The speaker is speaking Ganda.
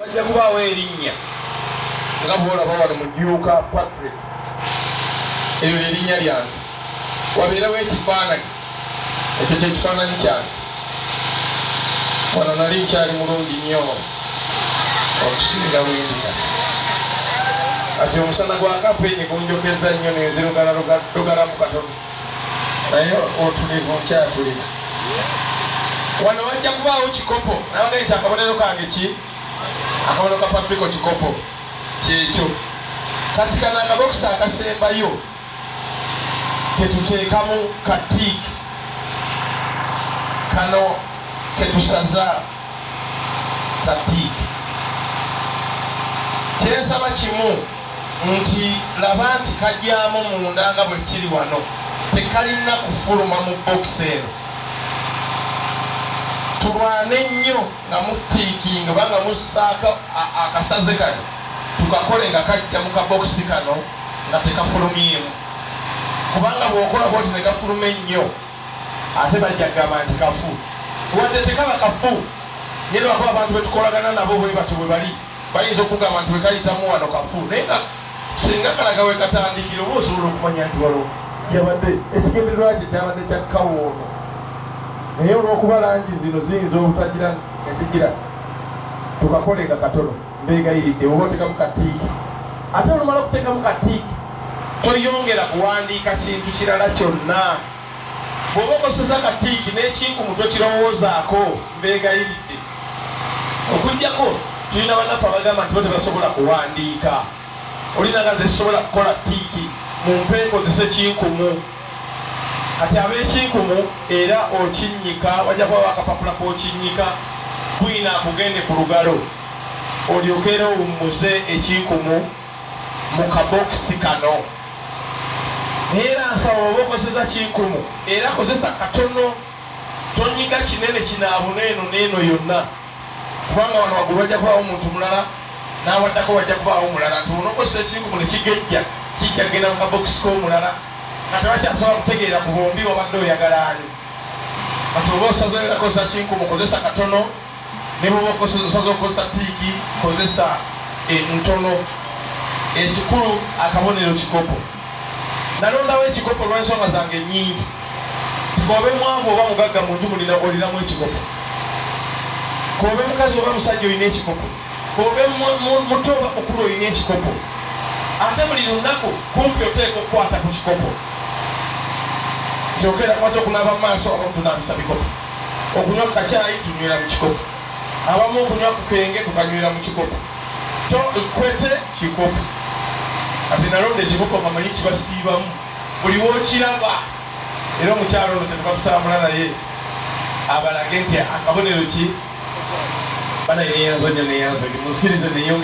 wajja kubaawo erinnya nga bwolaba wano mujuuka patrick eryo lyerinnya lyange wabeerewo ekifaananyi ekyo kyekifaananyi kyange wano nali nkyali mulungi nnyo okusinga bwendika kati omusana gwakapenye gunjokeza nnyo nenzirugalarugalamu katono naye otulivu nkyatulina wano wajja kubaawo kikopo nabaga nti akabonero kange ki akabonero ka patriko kikopo kyekyo kati kana akabokisi akasembayo ketuteekamu katik kano ketusaza katik kyensaba kimu nti, Laba nti kagyamu munda nga bwe kiri wano, tekalina kufuluma mu bbokisi eno. Tulwane nnyo nga muftiikinga oba nga mussaako akasaze kano, tukakole nga kajja mu kabokisi kano nga tekafulumyemu. Kubanga bw'okola bw'otyo ne gafuluma ennyo, ate bajja kugamba nti kafu. Wadde tekaba kafu, naye lwakuba abantu be tukolagana nabo bwe batyo bwe bali. Bayinza okugamba nti wekayitamu wano kafu naye nga singa kalaga wekatandikira oba osobola okumanya nti walo yabadde ekigendererwa kye kyabadde kya kawoono naye olwokuba langi zino ziyinza obutagira ezigira tukakolenga katono mbegayiridde oba otekamu katiiki ate olumala okutekamu katiiki toyongera kuwandiika kintu kirala kyonna Bw'oba okoseza ka tiiki n'ekinkumu tokirowoozaako mbeegayiridde. Okuggyako tulina bannaffe abagamba nti bo tebasobola kuwandiika. Oli nanga nze sisobola kukola tiiki mumpe nkozese kinkumu. Kati ab'ekinkumu era okinnyika wajja kubawo akapapula k'okinnyika bwiino akugende ku lugalo olyoke era owummuze ekinkumu. mu kabokisi kano. Naye era nsaba bw'oba okozeseza kinkumu era kozesa katono, tonyiga kinene kinaabuna eno n'eno yonna kubanga wano waggulu wajja kubaawo omuntu mulala n'awaddako wajja kubaawo mulala nti bw'onookozesa ekinkumu ne kigejja kijja kugenda mu kabokisi k'omulala nga tebakyasobola kutegeera ku bombi wabadde oyagala ani. Kati bw'oba osazeewo era kozesa kinkumu, kozesa katono. Ne bw'oba osaze okukozesa tiiki, kozesa entono. Ekikulu akabonero kikopo. Nalondawo ekikopo olw'ensonga zange nnyingi. K'obe mwavu oba mugagga mu nju muno olinamu ekikopo. K'obe mukazi oba musajja olina ekikopo. K'obe muto oba mukulu olina ekikopo. Ate buli lunaku kumpi oteekwa okukwata ku kikopo. Kyokera, kwata okunaaba mu maaso oba kutunaabisa bikopo. Okunywa ku kacaayi tunywera mu kikopo. Abamu okunywa ku kenge tukanywera mu kikopo. To kwete kikopo. Kati nalonda ekikopo nga manyi kibasiibamu buli w'okiraba. Era omukyala ono kyetuva tutambula naye abalage nti akabonero ki. Banaye neyanza nnyo neyanza ndi munsikirize neyongere.